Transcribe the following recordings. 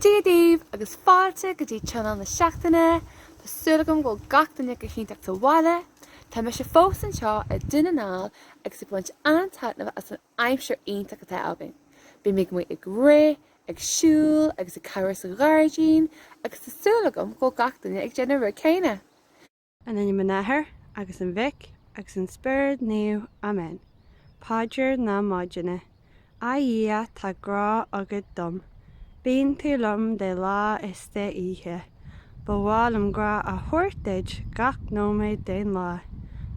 Dia daoibh agus fáilte go dtí tionól na seachtaine. Tá súil agam go bhfuil gach duine go hiontach sa bhaile. Tá mise fós anseo i nDún na nGall agus ag baint an-taitneamh as an aimsir iontach atá againn. Bím amuigh ag rith, ag siúl agus ag cabhrú sa ghairdín agus tá súil agam go bhfuil gach duine ag déanamh an rud céanna. I n-ainm an Athar, agus an Mhic, agus an Spioraid Naoimh. Amen. Paidir na Maidine. A Dhia, tá grá agat dom. Bíonn tú liom de lá is de oíche. Ba mhaith liom grá a thabhairt duit gach nóiméad den lá.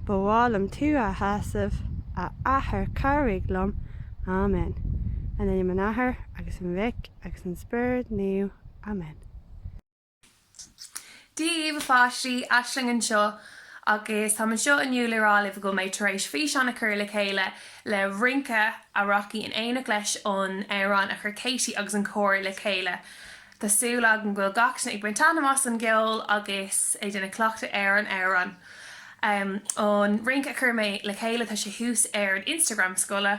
Ba mhaith liom tú a shásamh, a Athair cabhraigh liom. Amen. I n-ainm an Athar, agus an Mhic, agus an Spioraid Naoimh. Amen. Dia daoibh a pháistí, Aisling anseo agus táim anseo inniu le rá libh go bhfuil mé tar éis físeán a chur le chéile le rince a rachaidh in éineacht leis an amhrán a chuir Katie agus an cór le chéile. Tá súil agam go bhfuil gach duine ag baint taitneamh as an gceol agus ag déanamh cleachtadh ar an amhrán. An rince a chuir mé le chéile tá sé thuas ar an Instagram scoile.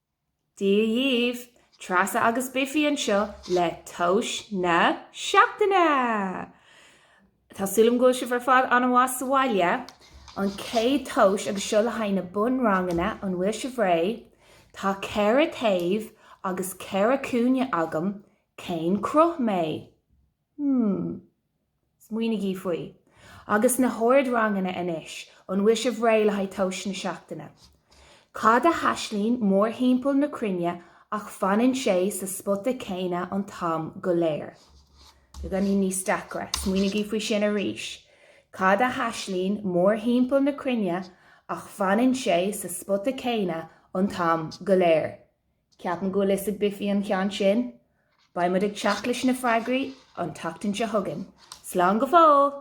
Dia dhaoibh! Treasa agus Biffy anseo le tomhas na seachtaine! Tá súil agam go bhfuil sibh ar fad an-mhaith sa bhaile. An chéad tomhas agus seo le haghaidh na bunranganna, an bhfuil sibh réidh? Tá ceithre taobh agus ceithre cúinne agam, cén cruth mé? Hmm. Smaoinigí faoi. Agus na hardranganna anois, an bhfuil sibh réidh le haghaidh tomhas na seachtaine? Cad a thaistealaíonn mórthimpeall na cruinne ach fanann sé sa spota céanna an t-am go léir. Beagáinín níos deacra. Smaoinigí faoi sin arís. Cad a thaistealaíonn mórthimpeall na cruinne ach fanann sé sa spota céanna an t-am go léir. Ceapaim go bhfuil a fhios ag Biffy an ceann sin. Beidh muid ag teacht leis na freagraí an tseachtain seo chugainn. Slán go fóill!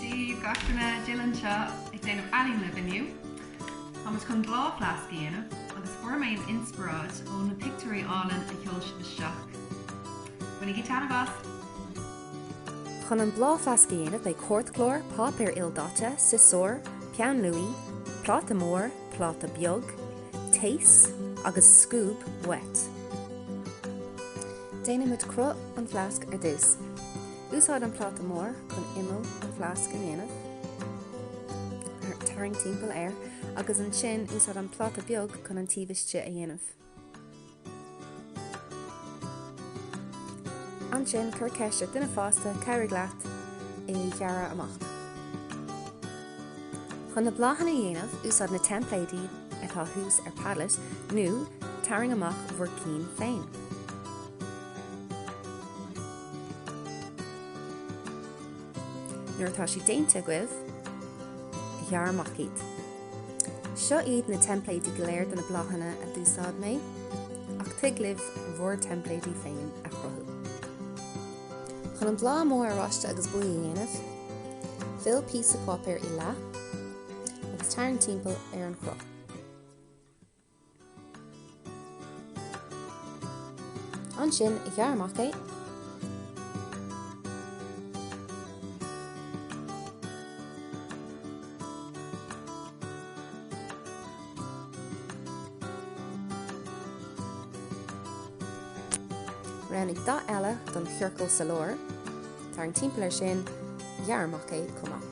Dia daoibh, gach duine, Jill anseo, ag déanamh ealaín libh inniu. Tá muid chun bláthfhleasc a dhéanamh, agus fuair mé an inspioráid ó na pictiúirí álainn a sheol sibh isteach. Bainigí taitneamh as! Chun an bláthfhleasc a dhéanamh beidh cártchlár, páipéar ildaite, siosúr, peann luaí, pláta mór, pláta beag, taos agus scuab uait. Déanfaimid cruth an fhleasc ar dtús. Úsáid an pláta mór chun imeall an fhleasc a dhéanamh. Tarraing timpeall air agus ansin úsáid an pláta beag chun an taobh istigh a dhéanamh. Ansin, cuir ceist ar duine fásta cabhraigh leat é a ghearradh amach. Chun na bláthanna a dhéanamh, úsáid na teimpléidí atá thuas ar Padlet nó tarraing amach bhur gcinn féin. Nuair atá siad déanta agaibh, ghearr amach iad. Seo iad na teimpléidí go léir do na bláthanna a d'úsáid mé, ach tig libh bhur dteimpléidí féin a chruthú. Chun an bláth mór oráiste agus buí a dhéanamh, fill píosa páipéir i leath agus tarraing timpeall ar an chruth. Ansin, ghearr amach é. Roghnaigh dath eile don chiorcal sa lár. Tarraing timpeall air sin, ghearr amach é chomh maith.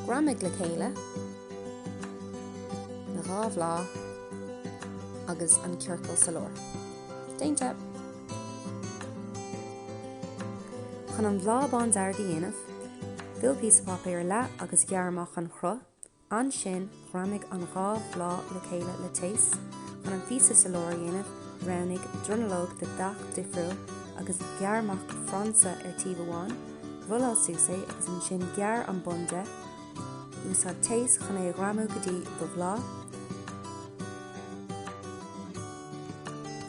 Greamaigh le chéile na dhá bhláth agus an ciorcal sa lár. Déanta! Chun an bláth bándearg a dhéanamh, fill píosa páipéir i leath agus ghearr amach an chruth Ansin ghreamaigh an dhá bhláth le chéile le taos. Chun an píosa sa lár a dhéanamh, roghnaigh dronuilleog de dhath difriúil agus ghearr amach frainse ar taobh amháin, rolláil suas é agus ansin gearr an bun de, úsáid taos chun é a ghreamú go dtí do bhláth.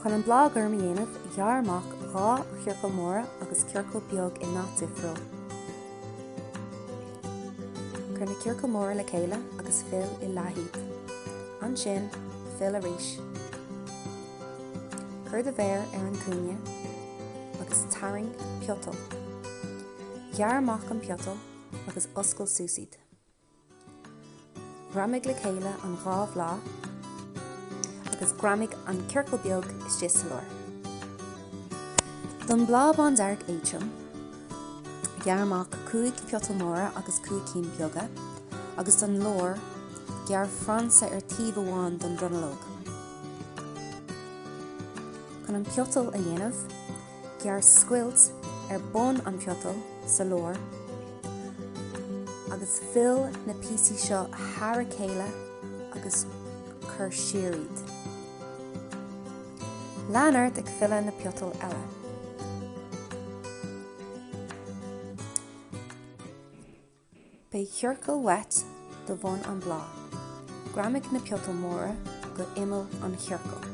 Chun an bláth gorm a dhéanamh, ghearr amach dhá chiorcal móra agus ciorcal beag i ndath difriúil. Cuir na ciorcail móra le chéile agus fill i leath iad. Ansin, fill arís. Cuir do mhéar ar an gcúinne agus tarraing piotal. Gearr amach an piotal agus oscail suas iad. Greamaigh le chéile an dhá bhláth agus greamaigh an ciorcal beag istigh sa lár. Don bhláth bándearg éadrom, gearr amach 5 piotal móra agus 5 cinn beaga, agus don lár, gearr frainse ar taobh amháin don dronuilleog. Chun an piotal a dhéanamh. gearr scoilt ar bun an piotail sa lár agus fill na píosaí seo thar a chéile agus cuir siar iad. Lean ort ag filleadh na piotail eile. Beidh ciorcal uait do bhun an bláth. Greamaigh na peitil móra go imeall an chiorcail.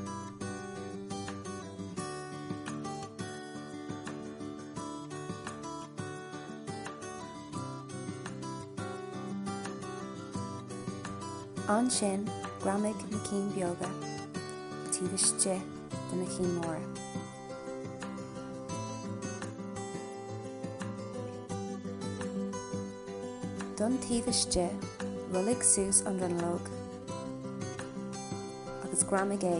Ansin greamaigh na cinn beaga taobh istigh de na cinn móra. don taobh istigh, rollaigh suas an dronuilleog agus greamaigh é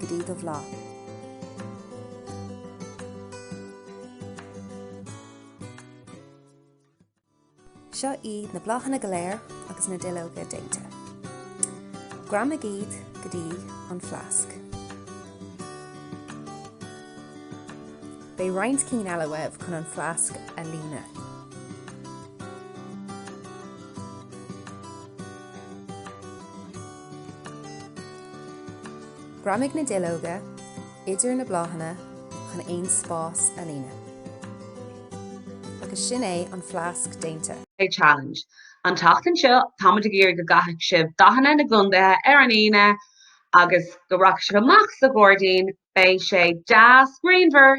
go dtí do bhláth. Seo iad na bláthanna go léir agus na duilleoga déanta. Greamaigh iad go dtí an fleasc. Beidh roinnt cinn eile uaibh chun an fleasc a líonadh. Greamaigh na duilleoga. idir na bláthanna chun aon spás a líonadh. Agus sin é an fleasc déanta. A challenge. An tseachtain seo tá muid ag iarraidh go gcaithfidh sibh dathanna na gcontaetha ar an Aoine agus go rachaidh sibh amach sa ghairdín, beidh sé deas grianmhar,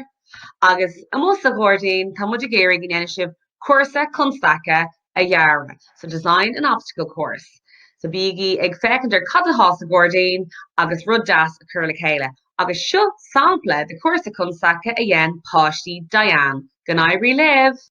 agus amuigh sa ghairdín tá muid ag iarraidh go ndéanfaidh sibh cúrsa constaice a dhearadh. so design an obstacle course. So bígí ag féachaint ar cad atá sa ghairdín agus rud deas a chur le chéile. Agus seo sampla de chúrsa constaice a dhein páistí Diane. Go n-éirí libh!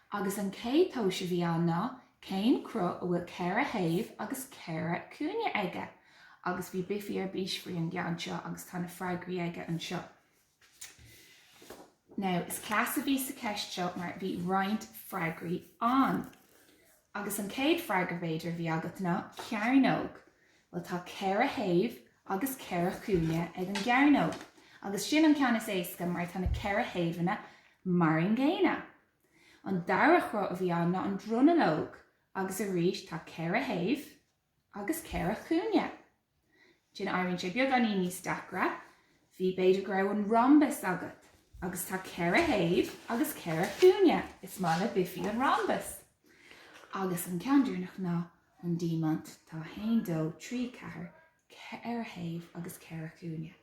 Agus an chéad tomhas a bhí ann ná, cén cruth a bhfuil ceithre thaobh agus ceithre chúinne aige? Agus bhí Biffy ar bís faoi an gceann seo agus tá na freagraí aige anseo. Now, is cleas a bhí sa cheist seo mar bhí roinnt freagraí ann. Agus an chéad freagra, b'fhéidir, a bhí agat ná, cearnóg. Bhuel, tá ceithre thaobh agus ceithre chúinne ag an gcearnóg. Agus sin an ceann is éasca mar tá na ceithre thaobhanna mar an gcéanna. An dara chruth a bhí ann ná an dronuilleog agus arís tá ceithre thaobh agus ceithre chúinne. Then, éiríonn sé beagáinín níos deacra, bhí, b'fhéidir go raibh an rhombus agat agus tá ceithre thaobh agus ceithre chúinne, is maith le Biffy an rhombus! Agus an ceann deireanach ná an diamant, tá 1, 2, 3, 4, ceithre thaobh agus ceithre chúinne.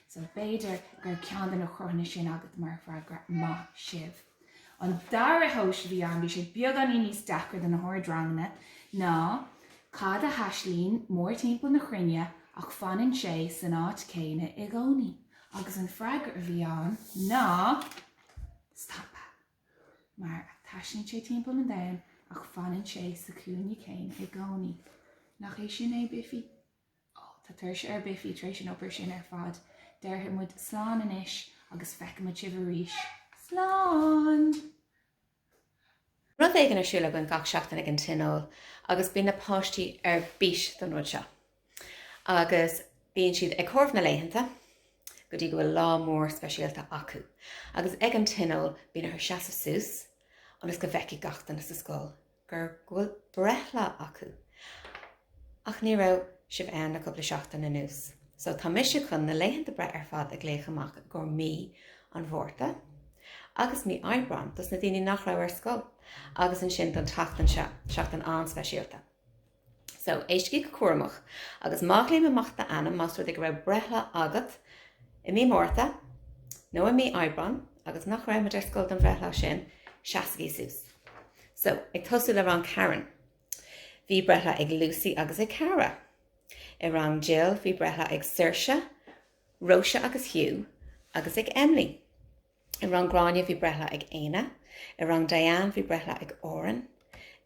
So b'fhéidir gur ceann de na cruthanna sin agat mar fhreagra. Maith sibh! An dara tomhas a bhí ann, bhí sé beagáinín níos deacra do na hardranganna, ná cad a thaistealaíonn mórthimpeall na chruinne ach fanann sé san áit chéanna i gcónaí? Agus an freagra a bhí ann ná, stampa! mar a thaistealaíonn sé timpeall an domhain ach fanann sé sa chúinne céanna i gcónaí. Nach é sin é Biffy? Ó, tá tuirse ar Biffy tar éis an obair sin ar fad. Déarfaidh muid slán anois agus feicfimid sibh arís. Slán! Rud éigin ar siúl againn gach seachtain ag an tionól agus bíonn na páistí ar bís don rud seo. Agus bíonn siad ag comhaireamh na laethanta go dtí go bhfuil lá mór speisialta acu. Agus ag an tionól bíonn orthu seasamh suas ionas go bhfeicfidh gach duine sa scoil gur, go bhfuil breithlá acu. Ach ní raibh sibh ann le cúpla seachtain anuas. So tá mise chun na laethanta breithe ar fad a ghlaoch amach i gcomhair mí an Mhárta agus mí Aibreáin dos na daoine nach raibh ar scoil. Agus ansin don tseachtain seo, seachtain an-speisialta. So, éistigí go cúramach. Agus má ghlaoim amach d'ainm, más rud é go raibh breithlá agat i mí Márta nó i mí Aibreáin agus nach raibh muid ar scoil don bhreithlá sin, seasaigí suas. So, ag tosú le rang Karen, bhí breithlá ag Lucy agus ag Cara. I rang Jill, bhí breithlá ag Saoirse, Róise agus Hugh, agus ag Emily. I rang Gráinne bhí breithlá ag Éanna, i rang Diane bhí breithlá ag Oran,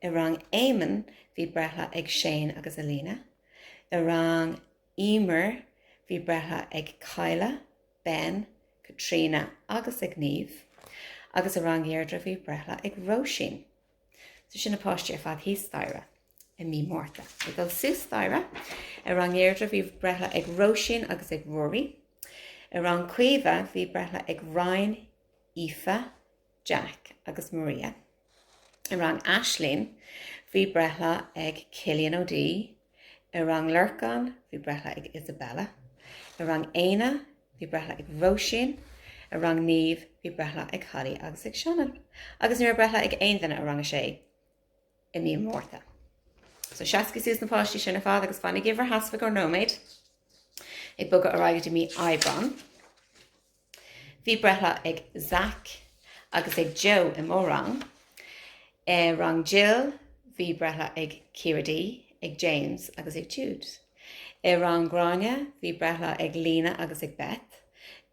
i rang Éamonn bhí breithlá ag Shane agus Alina, i rang Emer bhí breithlá ag Cadhla, Ben, Caitríona agus ag Niamh, agus i rang Dheirdre bhí breithlá ag Róisín. So sin na páistí ar fad thíos staighre. i mí Márta. Ag dul suas staighre i rang Dheirdre bhí breithlá ag Róisín agus ag Ruairí. I rang Caoimhe bhí breithlá ag Ryan, Aoife, Jack agus Maria. I rang Aislín bhí breithlá ag Cillian O'Dea. I rang Lorcán bhí breithlá ag Isabella. I rang Éanna bhí breithlá ag Róisín. I rang Niamh bhí breithlá ag Holly agus ag Seanan. Agus ní raibh breithlá ag aon duine i rang a sé. i mí an Mhárta. So seasaigí suas na páistí sin ar fad agus fanaigí in bhur seasamh ar feadh nóiméid. Ag bogadh ar aghaidh go dtí mí Aibreáin. Bhí breithlá ag Zach agus ag Joe i mo rang. I rang Jill bhí breithlá ag Ciara D, ag James agus ag Jude. I rang Gráinne bhí breithlá ag Lena agus ag Beth.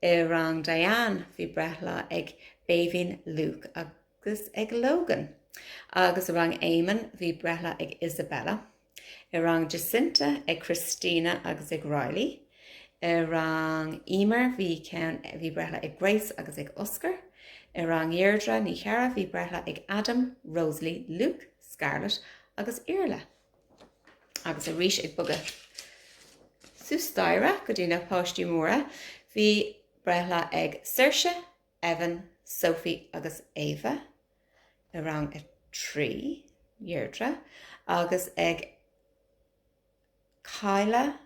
I rang Diane bhí breithlá ag Béibhinn, Luke agus. agus ag Logan. Agus i rang Éamonn bhí breithlá ag Isabella, i rang Jacinta ag Christina agus ag Riley, i rang Eimear bhí ceann bhí breithlá ag Grace agus ag Oscar, i rang Dheirdre Ní Chearra bhí breithlá ag Adam, Rosalie, Luke, Scarlett agus Iarla. Agus arís ag bogadh suas staighre go dtí na páistí móra bhí breithlá ag Saoirse, Evan, Sophie agus Ava i rang a trí, Dheirdre, agus ag Kyla,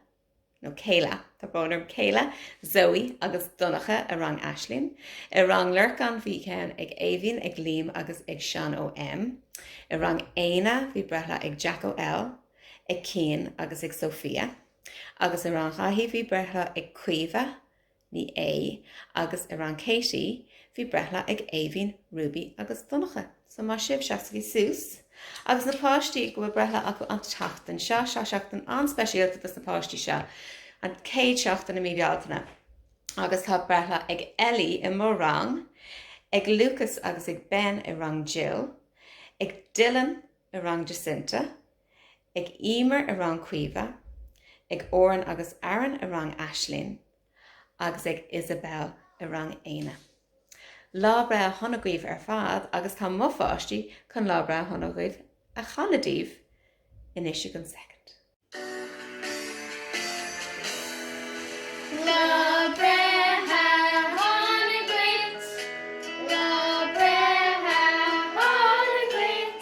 nó Kayla, tá brón orm, Kayla, Zoe agus Donnacha i rang Aisling, i rang Lorcán bhí ceann ag Éimhín, ag Liam agus ag Seán Ó M, i rang Éanna bhí breithlá ag Jack Ó L, ag Cian agus ag Sophia, agus i rang Dháithí bhí breithlá ag Caoimhe, Ní A, agus i rang Katie, bhí breithlá ag Éimhín, Ruby agus Donnacha. So maith sibh, seasaigí suas. Agus na páistí go bhfuil breithlá acu an tseachtain seo, seo seachtain an-speisialta dos na páistí seo, an chéad seachtain i mí Bealtaine. Agus tá breithlá ag Ellie i mo rang, ag Lucas agus ag Ben i rang Jill, ag Dylan i rang Jacinta, ag Emer i rang Caoimhe, ag Oran agus Aaron i rang Aisling agus ag Isabelle i rang Éanna. Lá breithe shona dhaoibh ar fad agus tá mo pháistí chun lá breithe shona dhuit a chanadh daoibh anois i gceann soicind. Lá breithe shona dhuit. Lá breithe shona dhuit.